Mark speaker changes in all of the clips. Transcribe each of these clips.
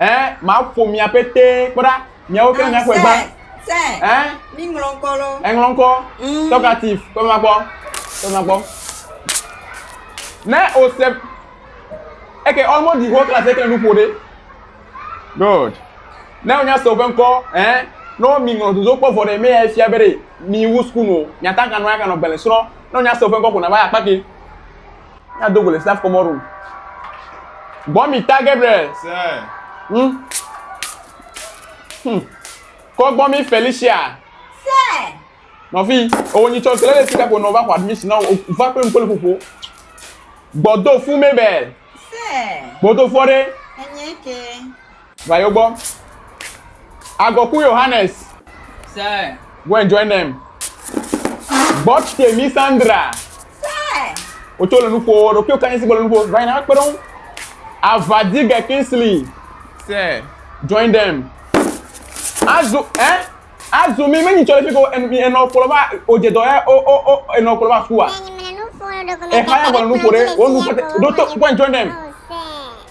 Speaker 1: Ẽ, maƒo mia pete kpe ɖa. Miawo kple miaƒe gba. Ẽ? Mi ŋlɔ ŋkɔ lɔ. Eŋlɔ ŋkɔ. Mm. Talkative. Kpe ma gbɔ. Kpe ma gbɔ. Ne o se. Eke ɔmɔ di ho klasi eke nu ƒo ɖe. Good. Ne o nya se o ƒe ŋkɔ, ẽ? Ne o mi ŋlɔ dozo kpɔ vɔ ɖe mea efia be ɖe mi wu sukunu o. Mia ta kanɔ ya kanɔ gbele srɔ. Ne o nya se o ƒe ŋkɔ ko na va ya kpake. Mia do go le staff kɔmɔ room. Gbɔ mi ta Gabriel. Sɛ. Hmm. Hmm. Kɔ gbɔ mi Felicia. Sɛ. Nɔvi, o nyi tsɔ kele le sika ko nɔ va xɔ admission na o va kple ŋkɔ le ƒoƒo. Gbɔdo fu Mabel. Sɛ. Gbɔdo fu ɔɖe. Enye ke. Va yo gbɔ. Agɔku Yohanes. Sir. Go and join them. Bɔt Temi Sandra. Sir. Wotso le nuƒo, ɖokuiwo kanyi si gbɔ le nuƒo. Va yina kpe ɖe ŋu. Avadige Kingsley. Sir. Join them. Azu, eh? Azu mi menyi tsɔ le fi ko enɔ kplɔ va odze dɔ ya o o o enɔ kplɔ va sukua. Exa ya gbɔ le nuƒo ɖe, wo nu kpɔte. Ɖo to go and join them.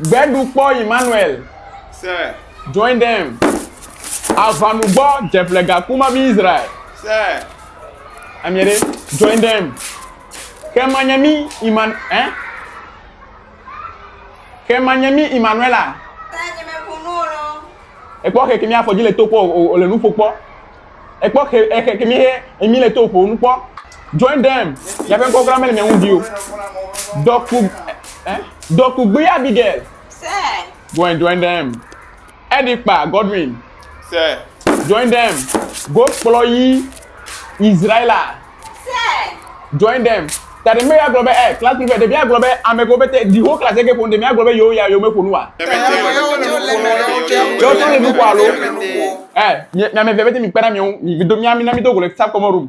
Speaker 1: Gbeɖu kpɔ Emmanuel. Sɛ. Join them. Avanu gbɔ dzeƒle gaku ma bi Israel. Sɛ. Amie ɖe. Join them. Ke manye mi Iman eh? Ke manye mi Emmanuela. Ekpɔ keke mi afɔ dzi le to kpɔ o le nuƒo kpɔ. Ekpɔ xe exe kemi he emi le to ƒo nu kpɔ. Join them. Ya ƒe ŋkɔ kura mele mia ŋu di o. Dɔku eh dɔku gbe Abigail. Sɛ. Go and join them. Eɖi kpa Godwin. Sɛ. Join them. Go kplɔ yi Israela. Join them. Tademe ya gblɔ be eh, class prefect, ɖevia gblɔ be ame kewo pete, the whole class eke ƒo nu, ɖe mía gblɔ be yewo ya yewo me ƒo nu wa? Yewo tsɛ wole nu ƒo alo? Eh, mi ame evea pete mi kpe ɖa mi ŋu, mi do mía mi na mi do go le subcommon room.